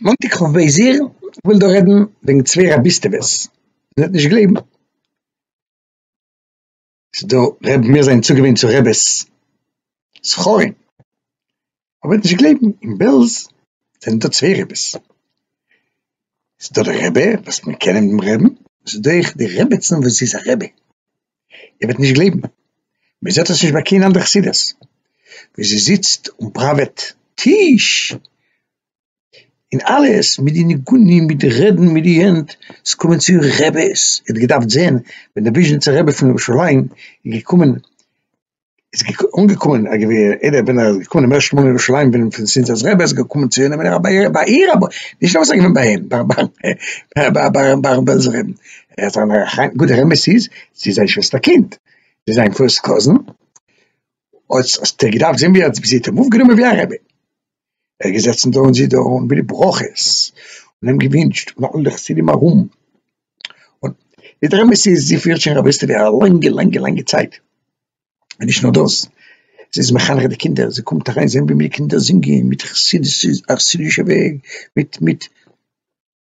מאנטאג כ' באייר, איך וויל דא רעדן וועגן צוויי רביסטעוועס, איר וועט נישט גלייבן, ס'איז דא ר' מיר זענען צוגעוואינט צו רעבעס זכרים, איר וועט נישט גלייבן, אין בעלז זענען דא צוויי רעבעס, ס'איז דא די רבי וואס מיר קענען דעם רעבן, ס'איז דא אויך די רעבעצן וואס זי איז א רבי. איר וועט נישט גלייבן, מען זעט עס נישט ביי קיין אנדער חסידות, ווי זי זיצט און פראוועט טיש, און אלעס מיט די ניגונים מיט די רעדן מיט די הענט, עס קומען צו רעבעס, איר האט געדארפט זען ווען די וויזשניצער רבי פון ירושלים איז געקומען, איז אנגעקומען א געווער אידער ווען ער איז געקומען דעם ערשטן מאל אין ירושלים ווען פון זינט רבי איז געקומען צו אינעם איז ער ביי איר ביי איר אבער נישט נאר וואס ער געווען ביי אים ביי ביי ביי ביי ביי רבי בעלזער רבי ער האט זיין א חיים גוט דער אמת איז זי איז זיין שוועסטער קינד זי איז זיין פירסט קאזין האט ער געדארפט זען ווי ער האט זי האט אים אויפגענומען ווי א רבי. ער איז געזעצן דא און זי דא און מיט די ברכות און אים געווינטשט און אלע חסידים ארום, און די דער אמת איז זי פירט שוין רביסטעווע א לאנגע לאנגע לאנגע צייט, און נישט נאר דאס זי איז מחנך די קינדער, זי קומט אריין זען ווי די קינדער זינגען מיט חסידות א חסידישע וועג מיט מיט.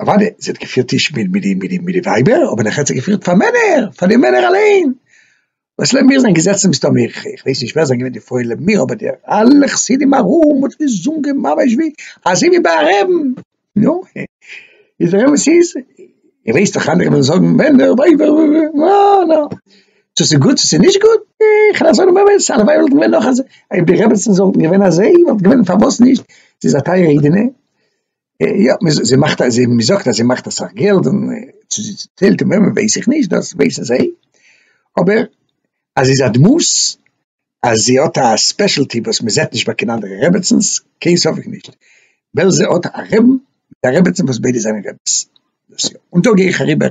אוודאי זי האט געפירט טיש מיט מיט די מיט די ווייבער אבער נאכדעם האט זי געפירט פאר מענער פאר די מענער אליין וואס לעבן מיר זענען געזעצן מסתמא איך ווייס נישט ווער זענען געווען די פרויען לעבן מיר אבער די אלע חסידים ארום האט געזונגען ממש ווי אזוי ווי ביי א רעבן נו איז דער אמת איז איך ווייס דאך אנדערע וועלן זאגן מענער ווייבער נא נא צו ס'איז גוט צו ס'איז נישט גוט איך וועל זאגן באמת הלוואי וואלטן געווען נאך אזוי אויב די רעבעצן זאלטן געווען אזוי וואלט געווען פארוואס נישט זי איז א טייערע אידענע יא, זי מאכט א, זי זאגט אז זי מאכט אסאך געלט, און צו זי טיילט און וועמען ווייס איך נישט, דאס ווייסן זיי, אבער אז זי איז א דמות, אז זי האט א ספעשעלטי וואס מען זעט נישט ביי קיין אנדערע רעבעצינס, קיין ספק נישט, בעלזע האט א רעבן מיט א רעבעצין וואס ביידע זענען רעבעס, דאס יא, און דא גיי איך אריבער.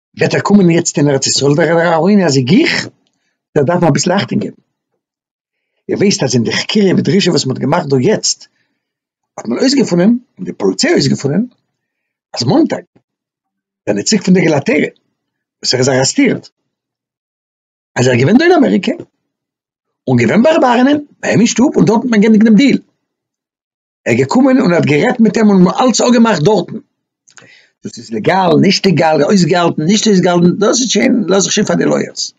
וועט ער קומען יעצט אין ארץ ישראל דער ר' אהרן אז איך גיך דער דארף מען אביסל אכטונג געבן איר ווייסט אז אין די חקירה ודרישה וואס מ'האט געמאכט דא יעצט האט מען אויסגעפונען און די פאליציי האט אויסגעפונען אז מאנטאג דער נציג פון די געלאטעריע וואס ער איז ארעסטירט אז ער איז געווען דא אין אמעריקע און געווען ביי ר' אהרן'ען ביי אים אין שטוב און דארט האט מען געענדיגט דעם דיעל. ער איז געקומען און האט גערעדט מיט אים און אלץ אפגעמאכט דארטן, דאס איז לעגאל נישט לעגאל אויסגעהאלטן נישט אויסגעהאלטן דאס איז שוין לאז איך שוין פאר די לויערס,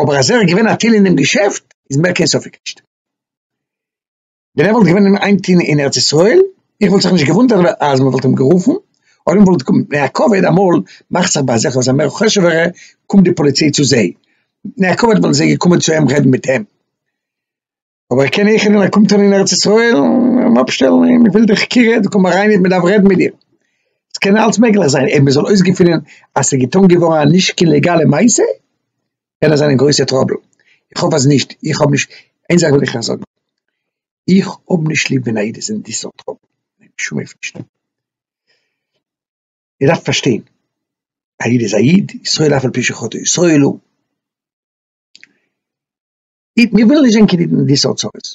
אבער אז ער איז געווען א טיל אינעם געשעפט איז מער קיין ספק נישט, ווען ער וואלט געווען אין איין טיל אין ארץ ישראל איך וואלט זיך נישט געוואונדערט אז מען וואלט אים גערופן אדער מען וואלט געקומען, נעה קאוויד אמאל מאכט זיך ביי אזעלכע וואס זענען מער חשוב'ערע קומט די פאליציי צו זיי, נעה קאוויד וואלטן זיי געקומען צו אים רעדן מיט אים. אבער איך קען איחד און ער קומט אן אין ארץ ישראל און אפשטעלן און מ'וויל די חקירה דו קום אריין איך מדארף רעדן מיט דיר עס קען אלץ מעגליך זיין אויב מ'זאל אויסגעפינען אז ס'געטון געווארן א נישט קיין לעגאלע מעשה קען עס זיין אין גרויסע טראבל איך האף אז נישט איך האב נישט איין זאך וויל איך זאגן איך האב נישט ליב ווען א איד איז אין די סארט טראבל בשום אופן נישט איר דארפט פארשטיין א איד איז א איד ישראל אף על פי שחטא ישראל הוא מיר ווילן נישט זען קעניגן אין די סארט צרות,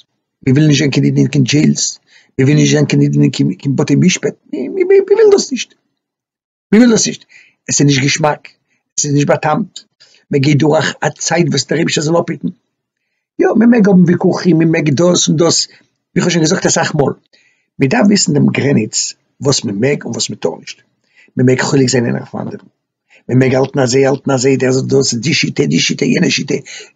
מיר ווילן נישט זען קעניגן אין קיין דזשעילס, מיר ווילן נישט זען קעניגן אין קיין בתי משפט, מיר ווילן דאס נישט, מיר ווילן דאס נישט, עס איז נישט געשמאק, עס איז נישט בא'טעמ'ט, מען גייט דורך א צייט וואס דער אייבישטער זאל אפהיטן, יא מען מעג האבן וויכוחים, מען מעג דאס און דאס, ווי כ'האב שוין געזאגט אסאך מאל, מען דארף וויסן דעם גרעניץ וואס מען מעג און וואס מען טאר נישט, מען מעג חולק זיין איינער אויפן אנדערן. מען מעג האלטן אזוי האלטן אזוי דער זאגט דאס די שיטה די שיטה יענע שיטה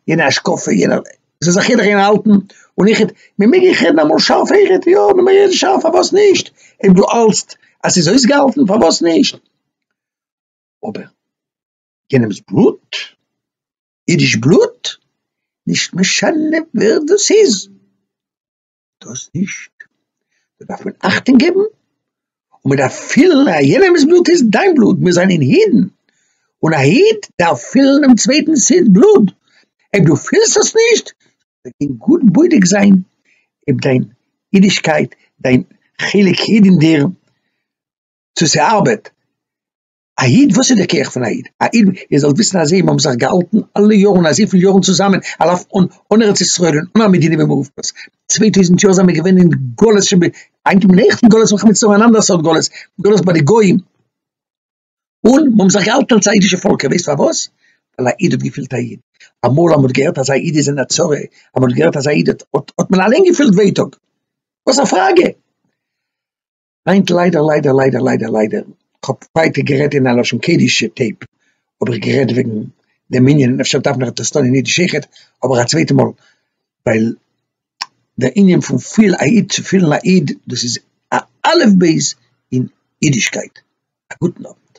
יענע השקפה יענע זיי זאך יעדער קען האלטן און איך מען מעג איך רעדן אמאל שארף איך רעד יא מען מעג רעדן שארף פארוואס נישט אויב דו האלטסט אז ס'איז אויסגעהאלטן פארוואס נישט אבער יענעמס בלוט אידיש בלוט נישט משנה ווער דאס איז. דאס נישט, דא דארף מען אכטונג געבן, און מען דארף פילן אז יענעמ'ס בלוט איז דיין בלוט, מיר זענען אידן, און א איד דארף פילן דעם צווייטנ'ס איד בלוט, אויב דו פילסט עס נישט, זאל דיר גאט בודק זיין אויב דיין אידישקייט, דיין חלק איד אין דיר, צו ס'ארבעט. א איד? וואס איז די כח פון א איד? א איד, איר זאלט וויסן אז זיי האבן זיך געהאלטן אלע יארן אזויפיל יארן צוזאמען על אף און אן ארץ ישראל און אן א מדינה במרובתו, צוויי טויזנט יאר זענען מיר געווען אין גלות שב ק, היינט האבן מיר אויך אין גלות מלחמת מצרים אן אנדערע סארט גלות, גלות ביי די גוים, און מיר האבן זיך געהאלטן אלס א אידישע פאלק, איר ווייסט פארוואס? ווייל א איד האט געפילט א איד, אמאל אז מען האט געהערט אז א איד איז אין א צרה, אז מען האט געהערט אז א איד האט, האט מען אליין געפילט ווייטאג, וואס א פראגע? היינט ליידער ליידער ליידער ליידער ליידער, כ'האב ווייטער גערעדט אין א לשון קעדישע טעיפ, האב איך גערעדט וועגן דעם ענין, אפשר דארף מען עס טון אין אידיש אויכעט, אבער א צווייטע מאל, ווייל דער ענין פון פיל א איד צו פילן א איד, דאס איז א אלף בית אין אידישקייט. א גוטן אוונט.